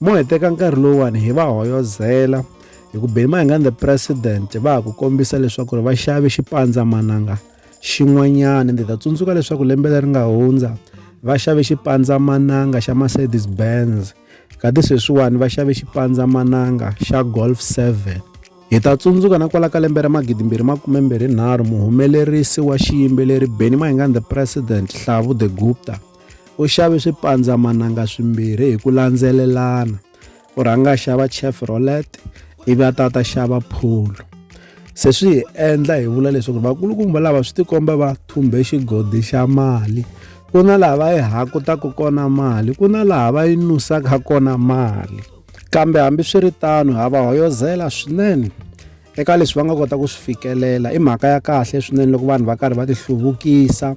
Mo hi teka nkarhi lowuwani hi va hoyozela hi ku beni mahanga and the president va ha ku kombisa leswaku ri va xave xipandzamananga xin'wanyana ndzi ta tsundzuka leswaku lembe leri nga hundza va xave xipandzamananga xa mercedes benz kati sweswiwani va xave xipandzamananga xa golf 7 hi ta tsundzuka na kwala ka lembe ra magidimbirhi makumembirhinharhu muhumelerisi wa xiyimbeleri benny mahingani the president hlavu the gupta u xave swipandzamananga swimbirhi hi ku landzelelana u rhanga a xava chevrolet ivi a ta ta xava pholo se swi hi endla hi vula leswaku vakulukumba lava swi tikomba va thumbe xigodi xa mali ku na laha va yi hakutaka kona mali ku na laha va yi nusaka kona mali kambe hambiswiritano ha va hoyozela swinene eka leswi va nga kota ku swi fikelela i mhaka ya kahle swinene loko vanhu va karhi va ti hluvukisa